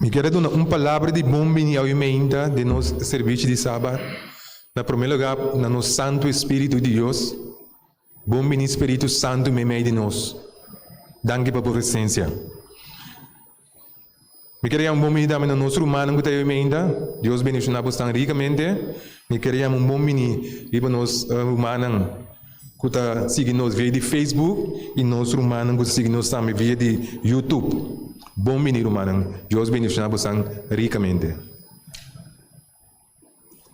Mi kere duna un palabra di bon bini awe meinta den nos servishi di Saba. Na promé lugá, na nos Santu Espíritu di Dios. Bon bini Spiritu Santu meimei di nos. Danki pa bo presensia. Mi ker yama un bon bini tambe na nos rumannan ku ta yameinta. Dios bendishoná boso tan rikamente. Mi ker yama un bon bini riba nos rumannan ku ta sigui nos via di Facebook i nos rumannan ku ta sigui nos tambe via di Youtube. Bon bini rumannan. Dios bendishoná boso tan rikamente.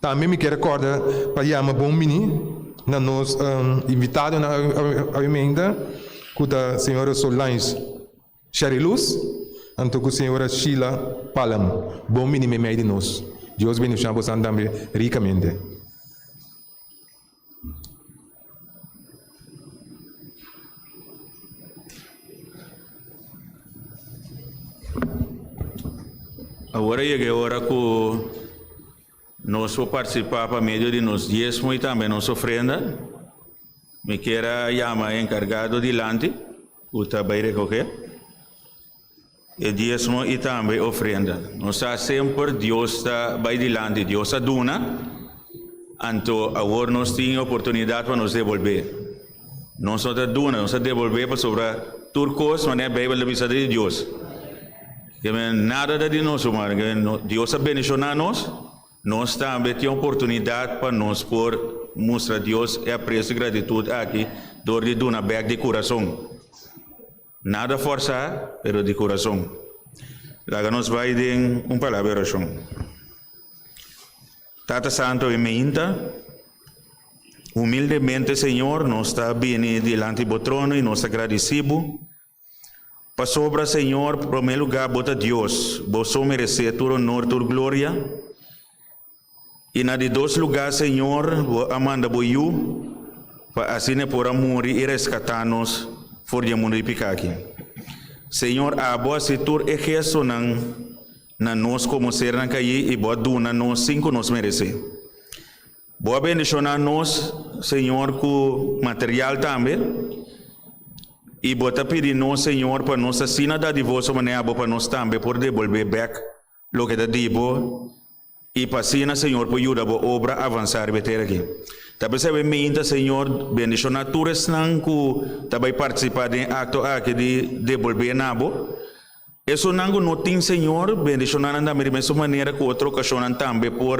Tambe mi ke recorda pa yama bon bini na nos invitadonan awiamenta ku ta señora Solange Sheriluz anto ku señora Sheila Palm. Bon bini memei di nos. Dios bendiciona bosan tambe ricamente. Awor a yega e ora ku nos por partisipa pa medio di nos diezmo i tambe nos ofrenda. Mi kier a yama e enkargado dilanti ku ta bai rekohe. E diesmo y tambe ofrenda. Nos sa semper Dios ta bay dilanti, Dios a duna, anto awor nos tin oportunidad pa nos devolbe. Nos no ta duna, nos ta devolbe pasobra tur cos manera Bijbel ta bisa ta di Dios. Que manera nada ta di nos humano, que no, Dios a bendiciona nos, nos tambe tin oportunidad pa nos por mustra Dios e aprecio y gratitud aki door di duna bek di curason. Nada forsá, pero di kurason. Laga nos bai den un palabra di orashon. Tata Santo, e meinta, humildemente, Señor, nos ta bini dilanti Bo trono i nos ta gradisí Bo, pasobra, Señor, promé lugá, Bo ta Dios, Bo so meresé tur onor, tur gloria. I na di dos lugá, Señor, bo a manda bo Yu, pa asina e por a muri i reskatá nos for di e mundu di piká aki. Señor, abo a hasi tur e gestonan na nos komo sernan kaí i bo a duna nos sin ku nos meresé. Bo a bendishoná nos, Señor, ku material tambe, i bo ta pidi nos, Señor, pa nos asina dadivoso mané abo pa nos tambe por debolbé bèk Loke ta di bo, i pa asina Señor por yuda bo obra avansá riba e tera aki. Ta pensá bo minta, Señor, bendishoná tur esnan ku ta bai partisipá den e akto aki di debolbé na bo. Esunnan ku no tin Señor, bendishoná nan tambe di mesun manera ku otro okashonnan tambe por.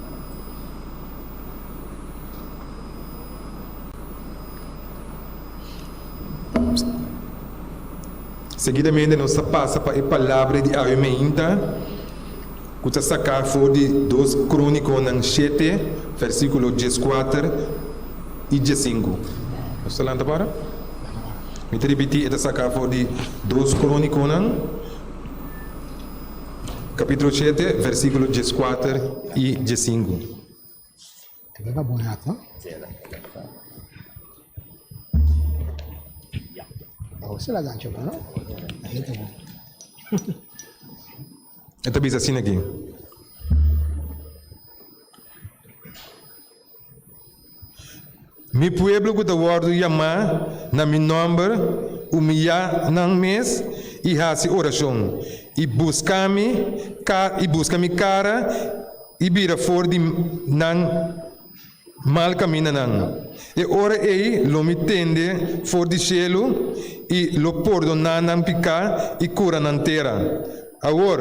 Seguidamente nos ta pasa pa e palabra di awe meinta cu ta saca for di Dos Croniconan shete versiculo diescuater y diescinco. Nos ta lanta para? Mi ta ripiti, e ta saca for di Dos Croniconan. Capítulo siete, versículo diescuater i diescinku. E ta bisa asin aki. Mi pueblo ku ta wòrdu yamá na mi nòmber, umiyá nan mes i hasi orashon, i buska mi, i buska mi kara, i bira for di nan mal kamindanan, e ora ei lo mi tende for di shelu i lo pordoná nan piká i kura nan tera. Awor,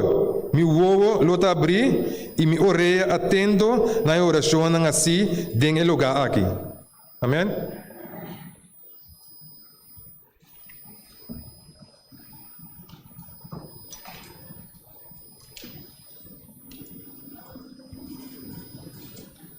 mi wowo lo ta abrí i mi orea atento na e orashonnan así den e lugá aki. Amén.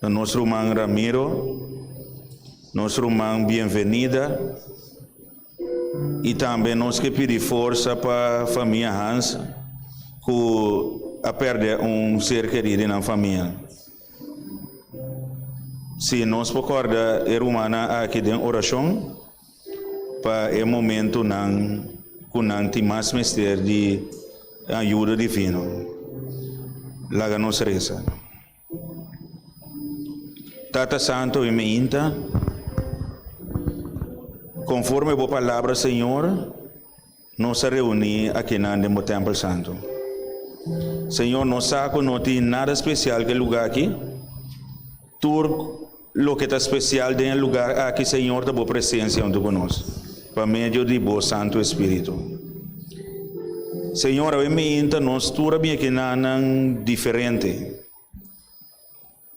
Na nos ruman Ramiro, nos ruman Bienvenida y tambe nos ke pidi forsa pa famia Hans cu a perde un ser keri di nan famia. Si nos por corda e rumannan aki den oracion pa e momentunan cu nan tin mas mester di ayuda divino. Laga nos reza. Tata Santo i Meinta, conforme bo palabra, Señor, nos a reuni akinan den bo tempel santo. Señor, nos sa cu no tin nada special ke lugar aki. Tur Loke ta spesial den e lugar aki Señor ta bo presensia huntu ku nos pa medio di bo Santu Espiritu. Señor, awe miinta nos tur a bin e kinanan diferente.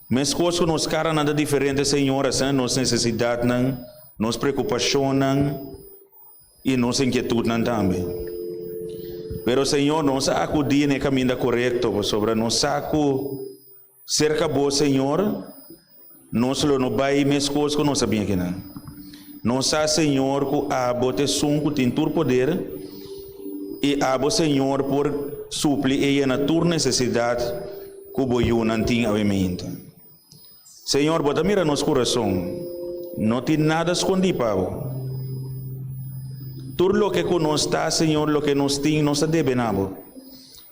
Meskos ku nos karanan ta diferente Señor, asina nos nesesidatnan, nos preokupashonnan i nos inkietutnan tambe. Pero Señor, nos a akudí na e kaminda korekto pasobra nos sa ku, Serka Bo, Señor, nos lo no bai meskos ku nos a bin akinan. Nos sa, Señor, ku Abo ta Esun ku tin tur poder, i Abo, Señor, por supli e yena tur nesesidat ku Bo yunan tin awe miinta. Señor, Bo ta mira nos kurason, no tin nada skondí pa Bo. Tur loke ku nos ta, Señor, loke nos tin, nos a debe na Bo.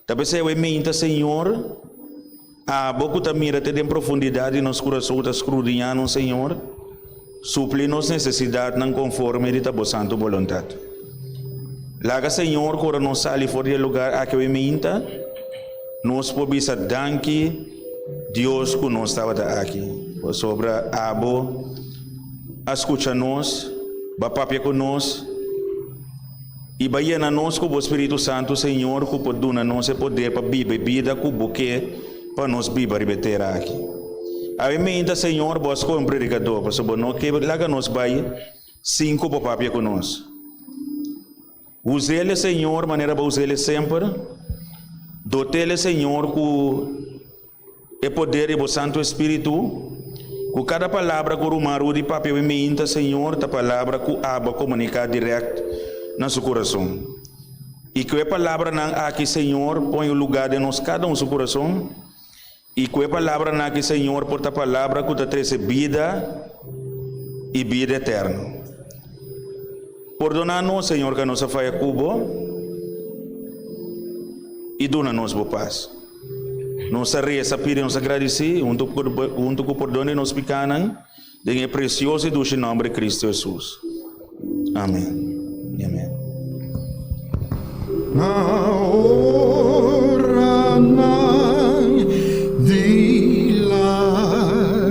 Ta p'esei awor e minta, Señor, a Bo cu ta mira te den profundidat di nos curason, ta scrudiña nos, Señor. Supli nos necesidadnan conforme di ta Bo santu boluntad. Laga, Señor, cu ora nos sali for di e lugar aki awor e minta, nos por bisa danki, Dios, cu nos tabata aki. Pasobra Abo a scucha nos, b'a papia cu nos. I bai yena nos ku bo Spiritu Santu, Señor, ku por duna nos e poder pa biba e bida ku bo ke pa nos biba riba e tera aki. Awe meinta, Señor, bo a skohe un predikadó, pasobra bo no ke laga nos bai sin ku bo papia ku nos. Us'el, Señor, manera bo us'el semper. Dot'el, Señor, ku. E poder di bo Santu Espiritu, ku kada palabra ku Ruman Rudy papia mi miinta Señor ta palabra ku Abba komuniká dirèkt na su kurason. I ku e palabranan aki Señor pon e lugá den nos kada un su kurason, i ku e palabranan aki Señor por ta palabra ku ta trese bida i bida eterno. Pordona nos Señor ka nos a faya ku bo i duna nos bo pas. Nos a resa pidi nos a gradisí huntu ku pordon di nos pikánan den e presioso i dushi nòmber di Kristu Hesus. Amen i amen. Na oranan di lágrima.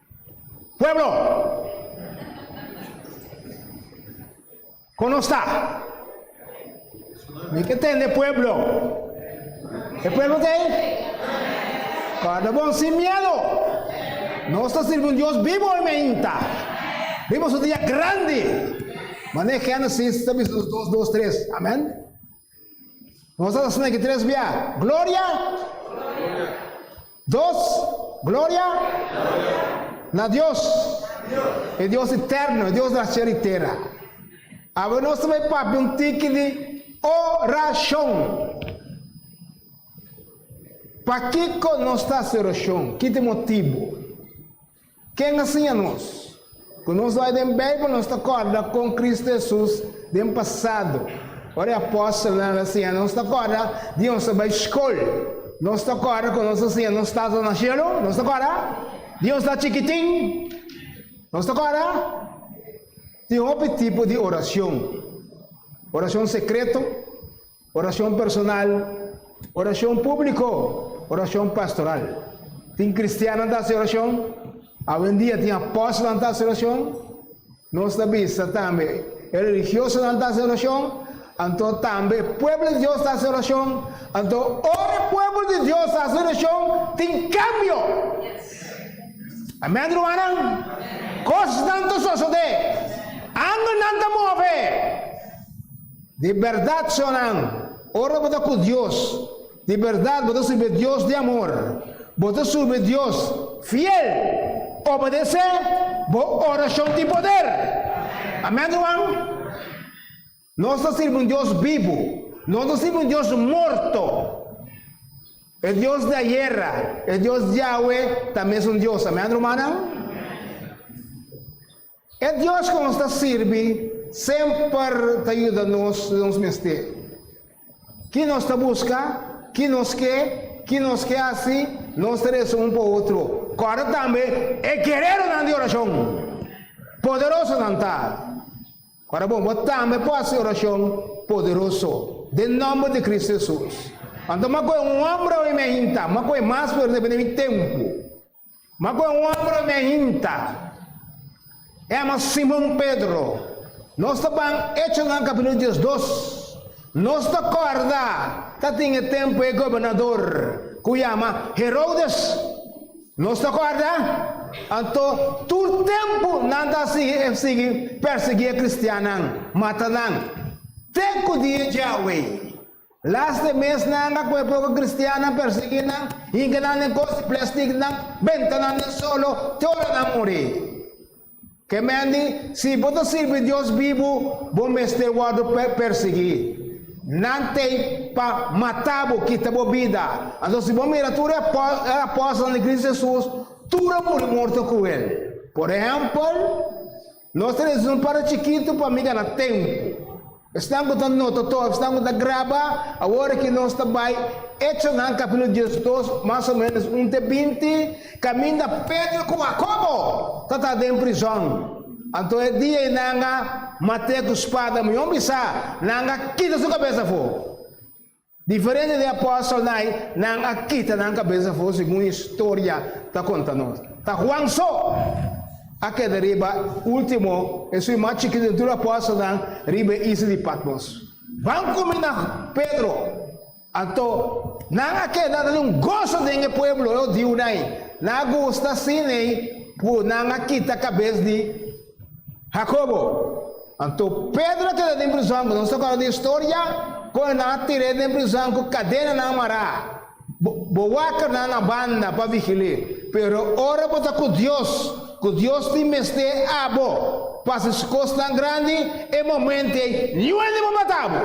Pueblo! Kon nos ta? Mi ke tende pueblo. E pueblo ta ei? Kada bon sin miedo. Nos ta sirbi un Dios bibo hoy meinta. Bibo su dia grandi. Mane hende sin ta bisa nos dos, dos, tres. Amen. Nos a ta sneaky tres bia. Gloria. Dos. Gloria. Na Dios. E Dios eterno, e Dios na cielo y tera. Abo nos ta bay papi un tiki di oracion. Pa kiko nos ta haci oracion? Kite motibo? Ken a siña nos? Ku nos bai den Beibel nos ta kòrda kon Kristu Hesus den pasado ora e apòstelnan a siña nos ta kòrda di nos a bai skol. Nos ta kòrda kon nos a siña nos tata na shelu, nos ta kòrda di nos ta chikitin, nos ta kòrda di hopi tipo di orashon, orashon sekreto, Oracion personal, oracion publico, oracion pastoral. Tin cristiannan ta haci oracion? Awendia tin apóstolnan ta haci oracion. Nos ta bisa tambe e religiosonan ta haci oracion, anto tambe e pueblo di Dios ta haci oracion. Anto ora e pueblo di Dios ta haci oracion tin cambio. Amen rumannan? Cosnan ta sosode, angelnan ta move. Di bèrdat so nan, ora bo ta ku Dios, di bèrdat bo ta sirbi Dios di amor, bo ta sirbi Dios fiel. Obedesé bo orashon tin poder. Amèn, ruman? Nos ta sirbi un Dios bibu, no ta sirbi un Dios morto. E Dios di ayera, e Dios di awe, ta mes un Dios. Amèn, rumannan? E Dios ku nos ta sirbi semper ta yuda nos loke nos mester. Ki nos ta buska, ki nos ke, ki nos ke hasi, nos ta resa un pa otro. Kòrda tambe e gereronan di orashon! Poderoso nan ta! Kòrda bon, bo tambe por hasi orashon poderoso den nòmber di Kristu Hesus. Anto, m'a kohe un hòmber oye mi a hinta, m'a kohe mas fuerte, mi a bini mi tempu. Ma cu e hombre me hinta, Ema Simon Pedro, nos ta ban Hechonan capitulo diesdos, nos ta corda ta tin e tempo e gobernador cu yama Herodes, nos ta corda, anto tur tempo nan ta sigui persegui e cristiannan, mata nan, te cu dia djawe. Las de mes nanga cu e poco cristiannan persegui nan, hincanan den cosi plasticnan, bentanan den solo, te ora nan muri. Ke men di, Si bo ta sirbi Dios bibu, bo mester wordo persegui. Nan t'ey pa mata bo, kita bo bida. Anto si bo mira tur e apóstelnan di Cristo Jesus, tur a muri morto cu el. Por ehempel. Nos ta resun pa ta chikitu pa mira na tempu. Esnan ku ta nota to esnan ku ta graba awor aki nos ta bai Echonan kapitulo diesdos mas o menos un te binti kaminda Pedro ku Jakobo tabata den prizòn. Anto e dia ei nan a mat'é ku spada ma yon bisa nan a kita su kabes afó. Diferente di apòstelnan, nan a kita nan kabesa for segun historia ta konta nos. Ta Juan so a keda riba e último, esun e mas chikito di tur apòstelnan, riba e isla di Patmos. Ban komin na Pedro. Anto, nan a keda ta den goso den e pueblo hudiunan. Nan a gusta asina ei, pur nan a kita kabes di. Jacobo, Anto Pedro keda den prizon, bo no ta acorda di e storia? Kunda nan a tir'é den prizon cu cadenanan mará, bo bo waker nan na banda pa vigil'é. Pero ora bo ta cu Dios, cu Dios tin mester abo pa haci su cosnan grandi, e momento ei niuende bo mata bo.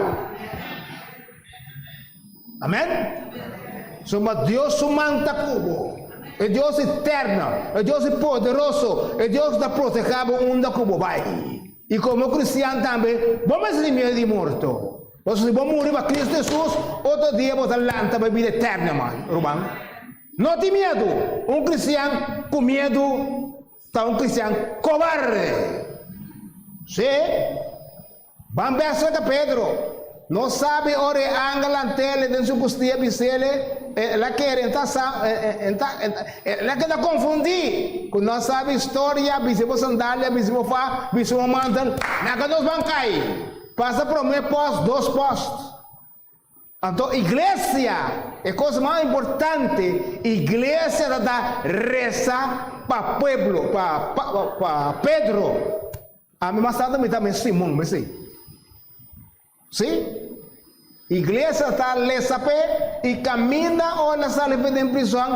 Amen. So ma Dios su man ta cu bo. E Dios eterno, e Dios poderoso, e Dios ta proteha bo unda cu bo bay. Y como cristian tambe bo mes tin miedo di morto. Pasobra si bo muri pa Cristo Jesus, otro dia bo ta lanta bay bida eterno man, ruman. No tin miedo. Un cristian cu miedo ta un cristian cobarde. Sí. Ban bèsla ta Pedro. No sabi ora e angelnan tele den su kustia bisele, E la kere, e ta sa, e ta, e la keda konfundí ku nos sabi historia, bisi bo sandalia, bisi bo fa, bisi bo mantel. Naka nos ban kai. Pasa promé pòst, dos pòst. Anto iglesia e kos mas importante, iglesia ta ta resa pa pueblo, pa pa Pedro, ami mas tanto mi ta mes Simon mi si, si iglesia ta lesa p'e i kaminda ora nan sali den prison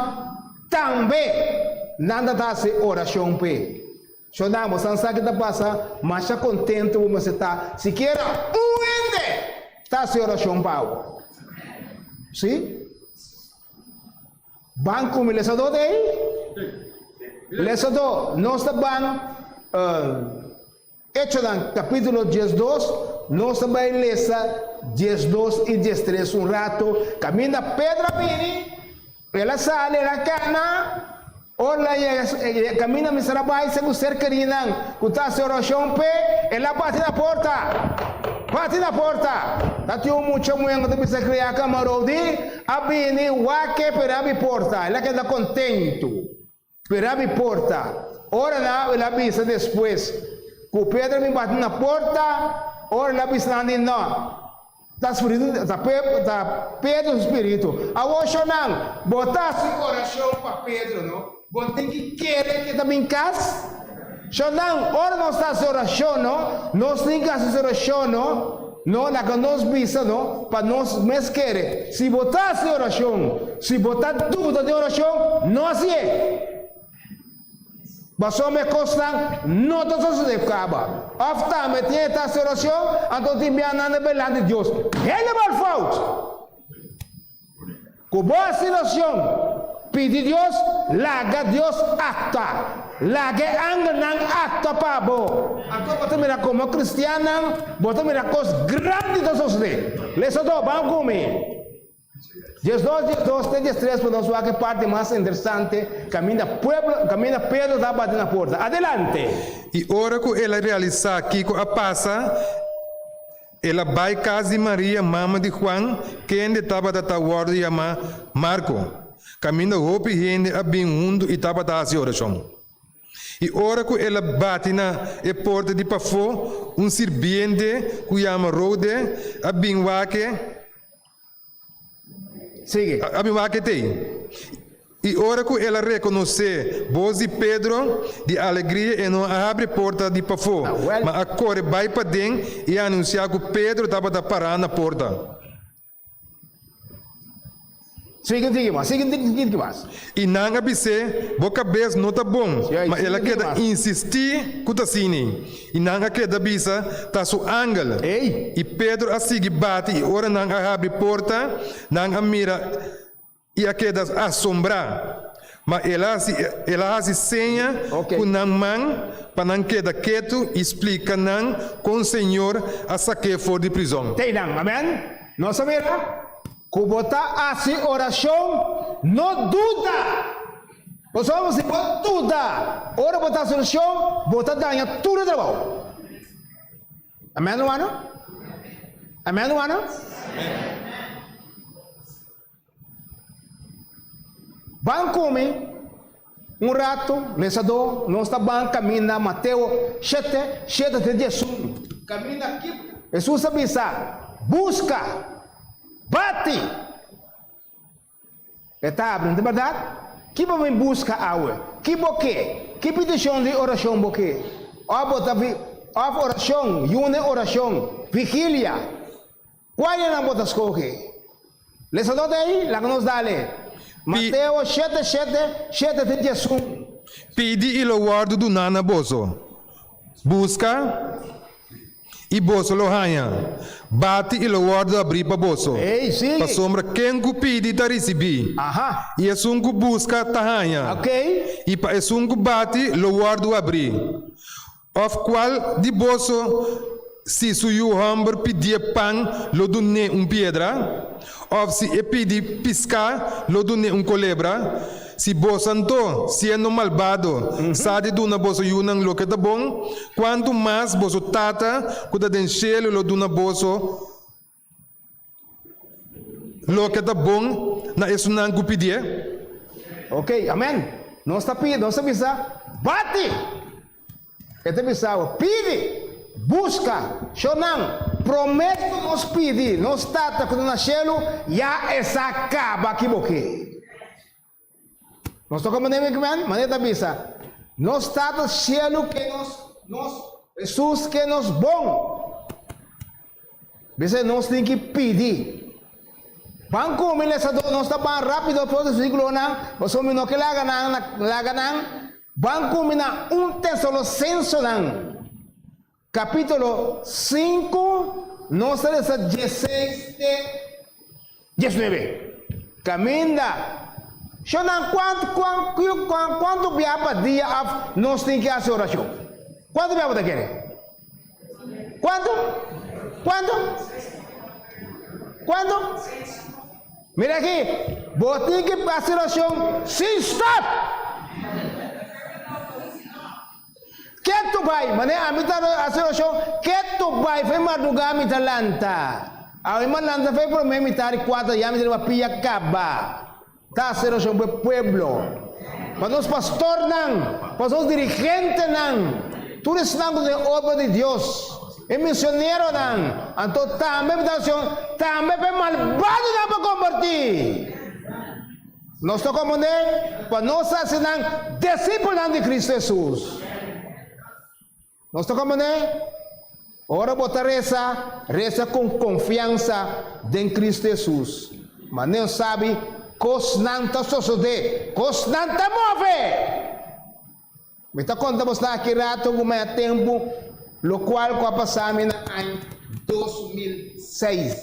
tambe nan ta ta hasi orashon p'e. Ciudadano, bo san sa ki ta pasa, masha contento bo mester ta, sikiera un hende ta haci oracion pa bo. Si? Ban cu mi lesador ta ey? Lesador, nos ta ban Hechonan capítulo 10, 2, nos ta bay lesa 10, 2 y 10, 3 un rato, caminda Pedro a bini, El a sali, el a kana. Ora e a kaminda mester a bai segun serkerinan ku ta hasi orashon p'e, el a bati na porta. Bati na porta! Ta tin un mucha muhé ku ta bisa kriá kamarou di a bini wak e p'e na abi porta. El a keda kontentu. Pera mi porta. Ora nan a oila bisa despues ku Pedro mi bati na porta, ora el a bisa nan di, No, ta spiritu, ta Pedro su spiritu. Awor shor nan, bo ta. Su orashon pa Pedro, no? Bo tin ki kere ke ta bin kas? Shondan, ora nos ta hasi orashon no, nos tin ka hasi orashon no, no laga nos bisa no, pa nos mes kere. Si bo ta hasi orashon, si bo ta duda den orashon, no hasi e. Pasobra mi e kosnan no ta sosode kaba. Òf tambe tin e ta hasi orashon, anto tin bianan na belanti Dios. Helemaal fout! Ku bo hasi losion, pidi Dios, laga Dios akta, laga e angelnan akta pa bo. Anto bo ta mira komo kristiannan bo ta mira kos grandi ta sosodé. Lesa dos, Ban ku mi. Dies dos, dies dos te dies tres pa nos wak e parti mas interesante kaminda pueblo kaminda Pedro ta bati na porta. Adelante. I ora ku el a realisá kiko a pasa, El a bai cas di Maria, mama di Juan, kende tabata ta worde yama Marco. Caminda hopi hende a bin huntu y tabata haci oracion. Y ora cu el a bati na e porta di pafo, un sirbiente cu yama Rode a bin wak e. Sigui. A bin wak et ei, i ora ku el a rekonosé bos di Pedro, di alegria e no a abri porta di pafó, ma a kore bai paden i a anunsiá ku Pedro tabata pará na porta. Sigui, sigui mas, sigui un tikis mas. I nan a bis'é, Bo kabes no ta bon. Ma el a keda insistí ku ta asini, i nan a keda bisa, Ta su angel. I Pedro a sigui bati, i ora nan a habri porta, nan a mira i a keda asombrá. Ma el a hasi seña ku nan man pa nan keda ketu i splika nan kon Señor a sak'é for di prizòn. Tei nan. Amèn? Nos a mira. Ku bo ta hasi orashon, no duda. Pasobra si bo duda ora bo ta hasi orashon, bo ta daña tur e trabou. Amèn, rumannan? Amèn, rumannan? Ban kumi. Un ratu, lesadó, nos ta ban kaminda Mateo shete, shete te diasun. Kaminda kip. Hesus a bisa, Buska! Bati! E ta abri, no ta bardad? Ki bo bin buska awe? Ki bo ke? Ki pitishon di orashon bo ke? Òf bo ta vi, òf orashon, yuna i orashon, vigilia. Kua e nan bo ta skohe? Lesanan ta ei? Laga nos dale. Mateo shete shete shete te dies un. Pidi i lo wòrdu duná na boso, buska i boso lo haña, bati i lo wòrdu abrí pa boso. Ei, sigui. Pasobra ken ku pidi ta risibí, Aha. i esun ku buska ta haña, Okey. i pa esun ku bati lo wòrdu abrí. Òf kual di boso si su yu hòmber pidié pan, lo dun'é un piedra? Òf si e pidi piská, lo dun'é un kolebra? Si boso anto, siendo malbado, sa di duna boso yunan loke ta bon, kuantu mas boso Tata ku ta den shelu lo duna boso Loke ta bon na esunnan ku pidié. Ok, amen. Nos ta pidi, nos ta bisa, Bati! E ta bisa awa, Pidi! Buska! Shonan, promes ku nos pidi nos Tata ku ta na shelu ya e sa kaba aki bo ke. Nos toca mane mi kmen, mane ta bisa, Nos Tata Cielu ke nos, nos Jesus ke nos bon. Bisai nos tin ki pidi. Ban ku mi lesa do, nos ta ban rapido afos di versículonan, pasobra mi no ke laga nan, laga nan, ban ku mi na un Tesalosensonan. Capítulo sinku, nos ta lesa dieseis te diesnuebe. Caminda, Shonnan, cuantu cuan cu cuan cuantu biaha pa dia of nos tin ki haci oracion? Cuantu biaha bo ta kere? Cuantu? Cuantu? Cuantu? Mira aki, bo tin ki haci oracion sin stop! Ketu bai, manera ami ta hasi orashon, ketu bai fe mardugá mi ta lanta. Awe mi a lanta fe promé mitad di kuater ya mi ta riba pia kaba ta hasi orashon pa e pueblo, pa nos pastornan, pa nos dirigentenan, tur esnan ku ta den obra di Dios, e misioneronan. Anto tambe mi ta hasi orashon tambe pa e malbadonan pa kombertí. Nos ta komand'é pa nos hasi nan disipelnan di Kristu Hesus. Nos ta komand'é, Ora bo ta resa, resa ku konfiansa den Kristu Hesus. Ma n'e sabi kosnan ta sosodé, kosnan ta move. Mi ta konta bos nan aki rato ku mi a tempu lo kual ku a pasá mi na aña dos mil seis.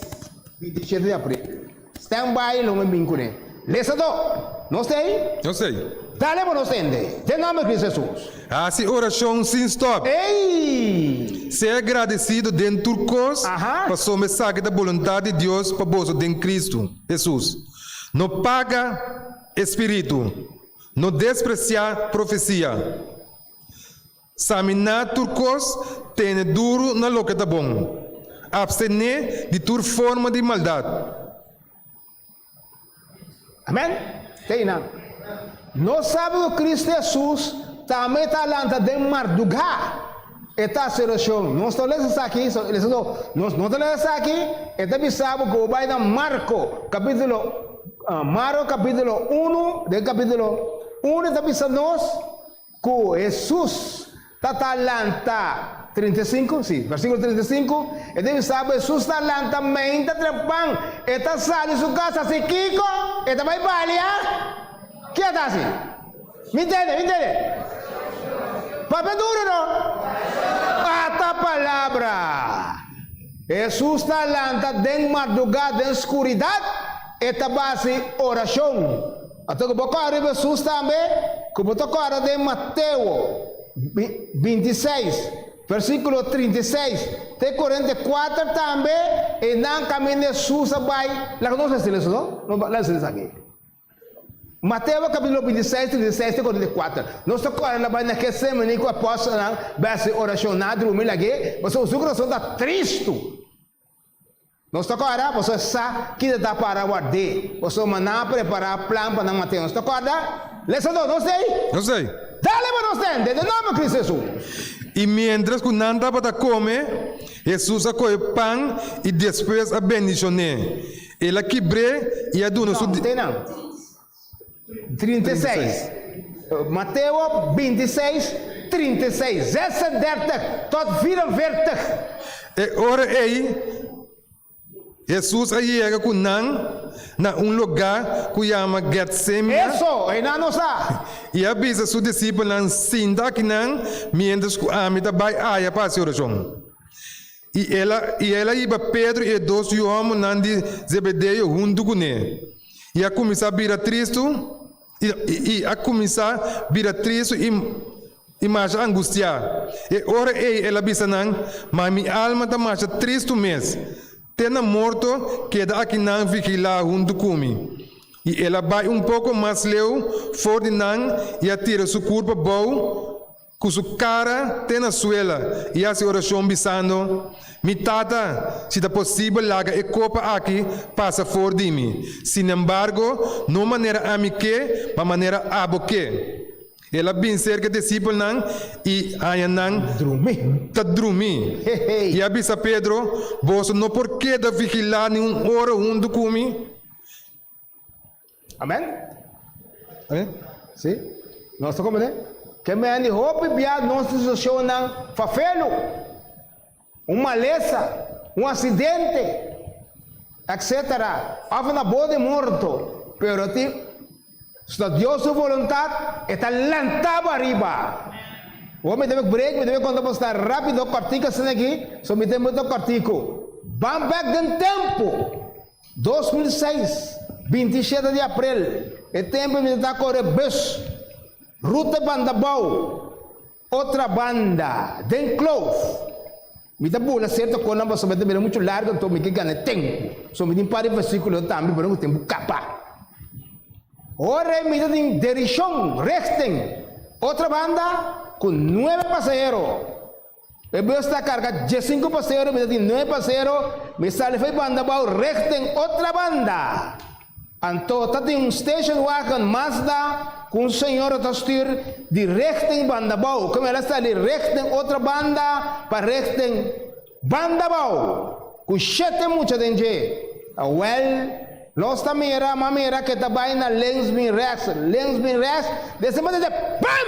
Mi dishete di aprende. Stand by lo mi bin kuné. Lesa do! Nos ta ei? Nos ta ei. Dale pa nos hende. Den nòmber di Kris Hesus. Hasi orashon sin stòp. Ei! Sea gradesido den tur kos pasobra mi sa ku e ta boluntat di Dios pa boso den Kristu Hesus. No paga e Spiritu. No despresiá profesia. Saminá tur kos, tene duru na loke ta bon, apstené di tur forma di maldat. Amen. Te einan, nos sabi ku Kristu Hesus tambe ta lanta den mardugá. E ta solucion. Nos ta lesa esaki, so el esaki, nos no ta lesa esaki, e ta bisa bo cu bo bai na Marco capitulo, Marco capitulo uno, den capitulo uno e ta bisa nos cu Jesus ta ta lanta, trinta i sinku, si, versiculo trinta i sinku, e ta bisa bo Jesus ta lanta mainta tra pan, e ta sali su casa, si kico? E ta bai balia? Kico e ta hasi? Mi ntende, mi ntende. Papia duro no. Ata palabra. Hesus ta lanta den marduga den skuridat, e ta basi orashon. Ato ku bo kòrda riba Hesus tambe, ku bo ta kòrda den Mateo binti i seis, versíkulo trinta i seis te korenta i kuater tambe, e nan kaminda Hesus a bai, laga nos lesa esun, no? Lesa esaki. Mateo kapítulo bintiseis, trinta i seis te konta di kuater. Nos ta kòrda na bai na ke semana ku apòstelnan bèsa e orashon na drumi lag'é, pasobra su kurason ta tristu. Nos ta kòrda pasobra e sa kita ta para ward'é, pasobra nan a prepará plan pa nan mat'é. Nos ta kòrda? Lesadó, nos t'ei? Nos t'ei? Dale pa nos ten, den e nòmber Kristu Hesus. I miéntras ku nan tabata kome, Hesus a kohe pan i despues a bendishoné. El a kibr'é i a duna su. Te nan. Trinta i seis. Mateo binti i seis, trinta i seis. Zesendertig tot vierenveertig. E ora ei Hesus a yega ku nan na un lugá ku yama Getsema. Eso e nan nos a. I a bisa su disipelnan, Sinta akinan miéntras ku ami ta bai aya pa hasi orashon. I el a i el a yiba Pedro i e dos yu homonnan di Zebedeo huntu ku ne, i a kuminsá bira tristu i i a kuminsá bira tristu i i masha angustiá. E ora ei el a bisa nan, Ma mi alma ta masha tristu mes, te na morto, keda aki nan vigilá huntu ku mi. I el a bai un poko mas leu for di nan i a tira su kurpa bou, Cu su cara te na suela y haci oracion bisando, Mi Tata, si ta posibel laga e copa aki pasa for di mi, sinembargo no manera ami ke, ma manera abo ke. El a bin cerca e discipelnan y haña nan ta drumi, y a bisa Pedro, Boso no por keda vigila ni un ora huntu cu mi? Amen? Amen? Si? Nos ta komprende? Ke men di hopi bia nos situashonnan fafelu, un malesa, un aksidente, etsetera, òf na bo di morto, pero tin, si ta Dios su voluntat, e ta lantaba ariba. Hopi mi debe break, mi debe konta bo asina rápido, kòrtiku asina aki, so mi ta inbita kòrtiku. Ban bèk den tempu. Dos mil i seis, binti i shete di aprel, e tempu mi ta ta kore bus ruta banda bou. Otrabanda, den Kloof, mi ta bula serto konan pasobra mi ta bira muchu largu anto mi ke gana tempu. So mi tin un par di versíkulo tambe pa no ku tempu kaba. Ora ei mi ta tin dirishon, richting, otrabanda, ku nuebe pasahero. E bus ta carga diesinku pasero mester tin nuebe pasero mi sali for e banda bou reg den otra banda anto ta tin un station wagon Mazda cu un señora ta stuur di reg den banda bou como el a sali reg den otra banda pa reg den banda bou cu shete mucha den dje a wel nos ta mira ma mira ke ta bay na links bin rechts links bin rechts desen manera dje pam!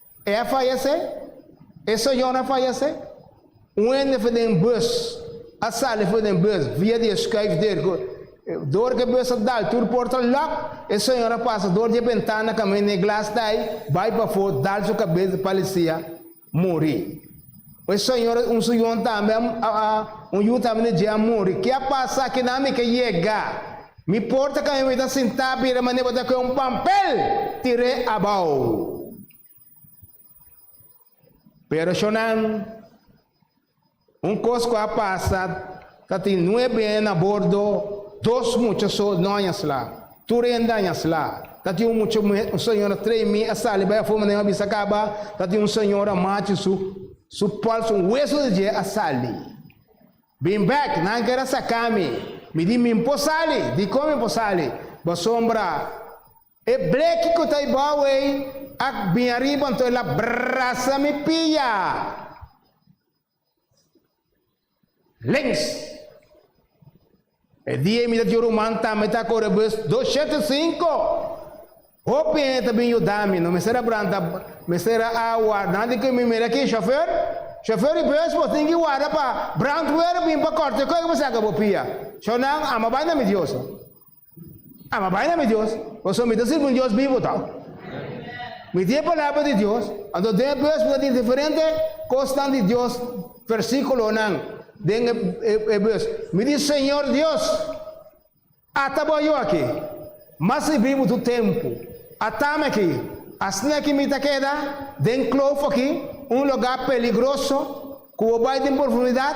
E a fayasé, e señor a fayasé. Un hende for den bus, a sali for den bus via di e schuif der cu door cu e bus a dal tur port a lock, e señor a pasa door di e bentana caminda e glas ta ay, bay pafo, dal su cabes di Palicia, muri. E señor un su yu tambe a un yu tambe na dje a muri. Ke a pasa kina mi ke yega. Mi por ta kami mi ta sinta bira mane bo ta kue un pampel tir'e abou. Pero shonan un kos ku a pasa Ta tin nuebe hen a bordo, dos mucha so no aña sla. Tur hende aña sla. Ta tin un mucha muhe, un señora tremi, a sali bai afó manera a bisa caba, ta tin un señora machi su su pòls un hueso di dje a sali. Bin bek, nan kere saca mi. Mi di min por sali, dicon mi por sali? Basombra, e bleki cu ta ebao ey ac bin ariba anto el a brasa mi pia. Links E dia mi ta tin ruman ta mi ta kore bus dos shete sinku. Hopi hende ta bin yuda mi, no mester a branta, mester a a warda di ke mi mira ki shofer, shofer i bus bo tin ki warda pa brantwer bin pa korte koi ku bo saka bo pia. Shor nan, a ma bai na mi diosa. Aba bai na mi Dios, pasobra mi ta sirbi un Dios bibu atau. Mi tin e palabra di Dios, anto den e bes mi ta tin diferente kosnan di Dios, versíkulonan den e bes. Mi di, Señor Dios, ata bo Yo aki, mas mi bibu tur tempu, ata mi aki, asnaki mi ta keda den kloof aki, un lugá peligroso, ku bo bai den profundidat.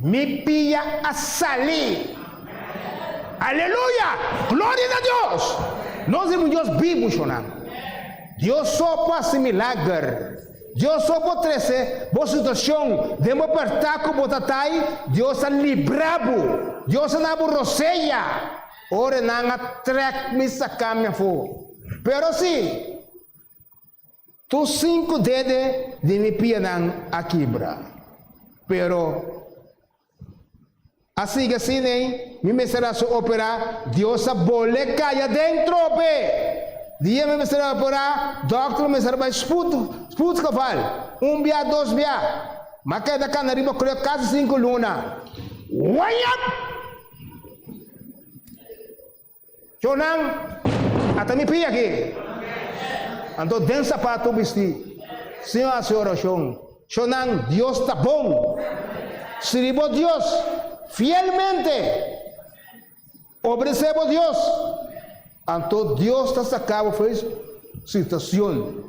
Mi pia a sali. Aleluya! Gloria na Dios! Nos tin un Dios bibu, shornan. Dios so por hasi milager. Dios so por trese bo situacion den bo perta cu bo ta tai. Dios a libra bo. Dios a na bo rosea. Ora nan a trek mi saca mi afo. Pero si. Tur sinku dede di mi pianan a kibra. Pero a sigui asin ei, mi mester a su operá, Dios a bol'e kaya den trope. Dia mi mester a operá, dòkter lo mester a bai sput, spuutgeval, un bia, dos bia. Mi a keda kana riba klòk kasi sinku luna. Wanyap! Chonan, Ata mi pia aki! Anto den sapatu bisti, Señor hasi oracion, Chonan, Dios ta bon! Sirbi bo Dios fielmente! Obedesé bo Dios! Anto Dios ta sacabo fuer situacion.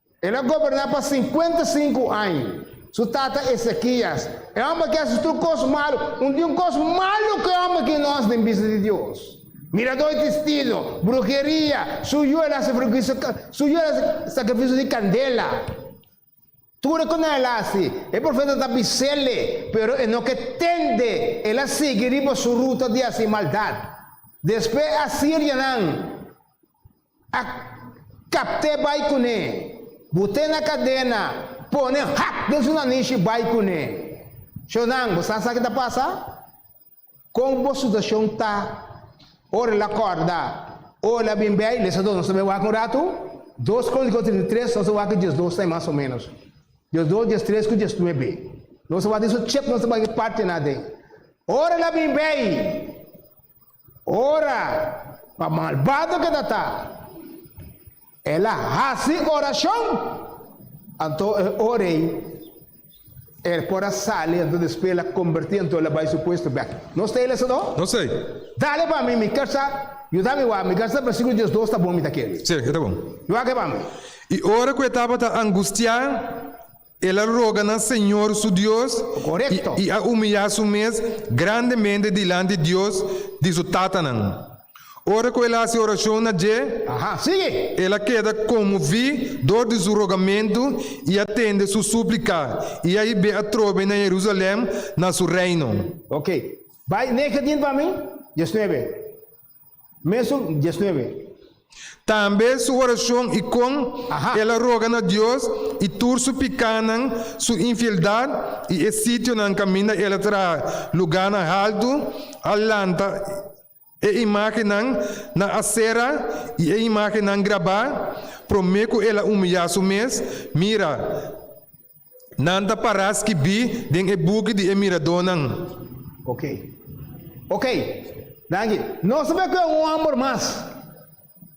El a goberná pa sinkuenta i sinku aña. Su tata Esekías, e òmber ku a hasi tur kos malu, unti un kos malu ku e òmber ki nos den bista di Dios. Miradó i testino, bruheria, su yu el hasi sakrifisio di kandela. Tur e ku nan el a hasi, e profeta ta bis'ele, pero e no ke tende. El a sigui riba su ruta di hasi maldat. Despues e a sirja nan. A capte bai cune. Bute na cadena, pone hak den su nanish y bai cune. Shonan, bo sa sa ki ta pasa? Con bo situacion ta? Ora el a corda, Oh, el a bin bay, lesa dos nos ta bay wak un ratu. Dos con dico trinta y tres, nos a wak dies dos tai mas o menos. Dies dos, dies tres cu dies nuebe. Nos a wak tin su chep nos ta bay un party na den. Ora el a bin bay. Ora pa malbado ke ta ta, el a hasi orashon, anto e ora ei el por a sali, anto despues el a kombertí, anto el a bai su puesto bèk. Nos ta hila esei no? No esei. Dale pa mi mi kersa, yu ta mi wak, mi kersa versikulo diesdos ta bon mi ta kere. Si, e ta bon. Yu wak e pa mi. I ora ku e tabata angustiá. El a roga na Señor su Dios i a humiliá su mes grandemente dilanti Dios di su tatanan. Ora ku el a hasi orashon na dje, el a keda konmoví dor di su rogamentu i a tende su súplika, i a hib'é atrobe na Jerusalèm, na su reino. Mesun diesnuebe. Tambe su oracion y con el a roga na Dios y tur su picanan, su infieldad y e sitionan caminda el a traha lugarnan haltu, a lanta e imagennan na Asera y e imagennan grabá, prome cu el a humilla su mes, mira, Nan ta pará skibí den e buki di e miradónan. Oké. Oké. Danki. Nos ta bai ku e un hòmber mas.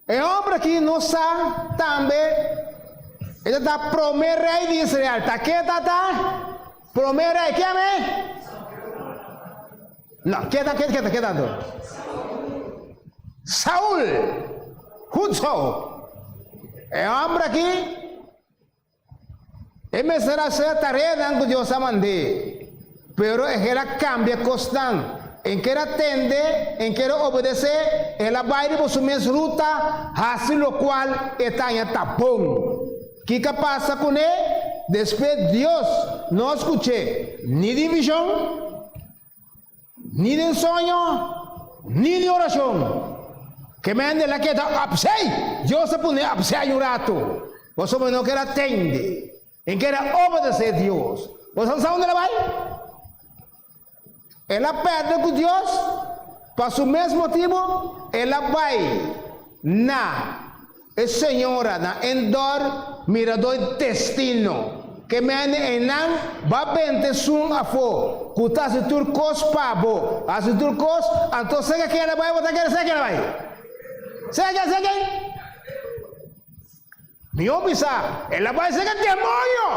E hòmber akí nos sa tambe e ta ta promé rei di Israel. Ta ke ta ta promé rei? Ke amé? No, ke ta ke ta ke ta anto? Saul. Gud so. E hòmber akí E mester a ser tareanan cu Dios a mand'é. Pero e hel a cambia cosnan. En ker a tende, en ker a obedecé, el a bai riba su mes ruta, haci locual e ta aña ta bon. Kica pasa cu n'e? Despues Dios no a scuch'é ni di vision. Ni den soño, ni di oracion. Ke mende el a keda opzij. Dios a pone opzij un ratu. Boso a mano keda tende. E keda obedece Dios. Bo sa unda el a bai? El a perde cu Dios. Pa su mes motibu el a bai na. E señora na Endor miradó e destino, ke mende einan ba bente esun afó, ku ta hasi tur kos pa bo, hasi tur kos, anto se ke keda bai bo ta keda se ke keda bai. Se ke keda se ke Mi hopi sa, el a bai se ke demonio!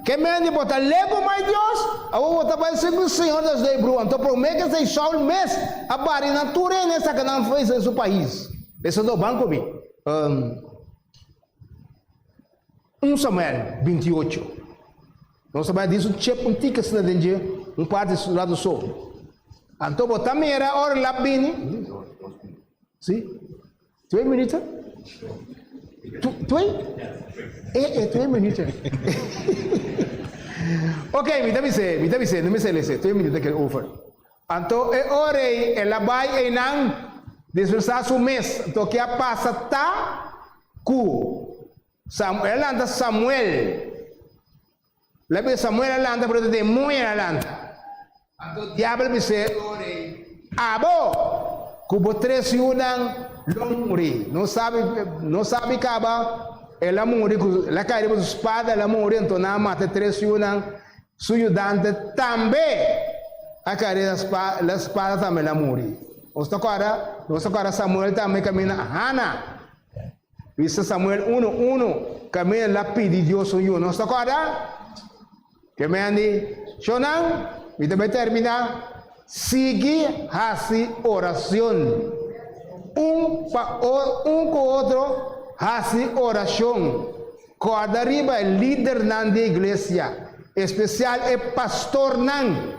Ke mende bo ta leku mai Dios? Awo bo ta bai sirbi Señor Dios dei bru. Anto promé ke esei Shaul mes a bari nan tur e ne saka nan fei den su pais. Besadó ban ku mi. Un Samuel binti ocho. Nos ta bai di su chep un tika asina den dje, un parti lado so. Anto bo ta mira ora lap bini? Sí. Twee minuto? Twee? E, e twee minuto. ok, mi ta bise, mi ta bise, no me sele se, twee minuto kel over. Anto e ore e la bai einan disfresa su mes, anto ke a pasa ta ku Samuel, e lanta Samuel. La bida Samuel a lanta pero ta demoño el a lanta. Anto diabel bis'é, O rei, abo ku bo tres yunan lo muri, no sabi no sabi kaba el a muri ku el a kai riba su spada, el a muri, anto nan a mata e tres yunan, su yudante tambe a kai riba e spada tambe el a muri. Nos ta kòrda? Nos ta kòrda Samuel tambe kaminda Hana? Prisa Samuel uno uno Camel a pidi Dios un yu. Nos ta corda? Ke men di, Shonan, mi ta bai termina. Sigui haci oracion. Un pa o, un cu otro haci oracion. Corda riba e lidernan di e iglesia, especial e pastornan.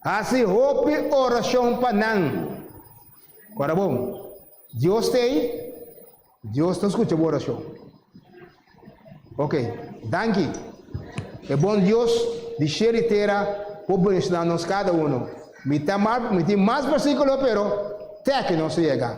Hasi hopi orashon pa nan. Ora bon, Dios ta ei, Dios ta skucha bo orashon. Ok, danki. E bon Dios di shel i tera por bendishona nos kada uno. Mi ta mal, mi tin mas bersikulo, pero tèkino nos a yega.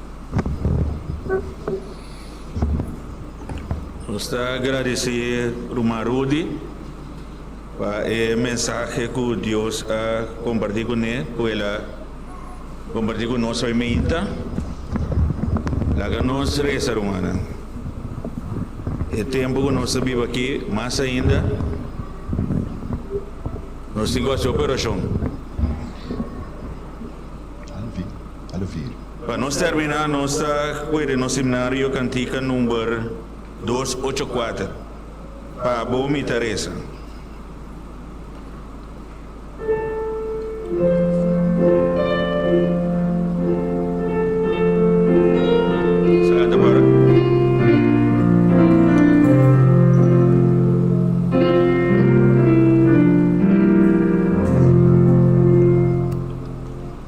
Nos ta agradecé Ruman Rudy pa e mensahe cu Dios a comparti cu ne, cu el a comparti cu nos hoy minta. Laga nos reza, rumannan. E tempo cu nos ta biba aquí, mas ainda, nos tin cu haci operacion. a lo firi. Pa nos terminá nos ta puede nos himnario cantica number dos ocho cuater, Pa Bo mi ta reza.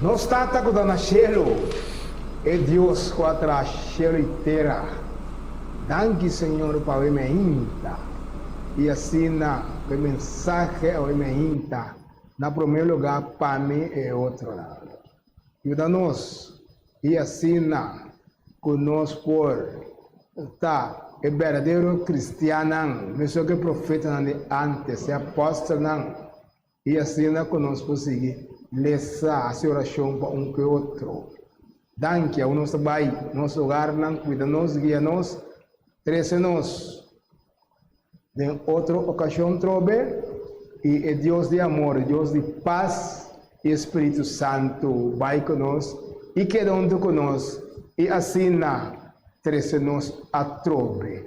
Nos Tata ku ta na shelu, e Dios ku a traha shelu i tera, danki Señor pa awe mi a hinta i asina ku e mensahe awe mi a hinta, na promé lugá pa mi e otro lado. Yuda nos i asina ku nos por ta e berdadero kristiannan mesun ku e profetanan di ántes, e apòstelnan, i asina ku nos por sigui lesa hasi orashon pa un ku e otro. Danki awe nos ta bai nos ogarnan, kuida nos, guia nos, trese nos. Den otro okashon trobe, i e Dios di amor, e Dios di pas i e Spiritu Santu bai ku nos i keda huntu ku nos i asina trese nos atrobe.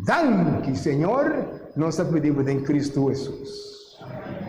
Danki, Señor, nos ta pidi bo den Kristu Hesus. Amén.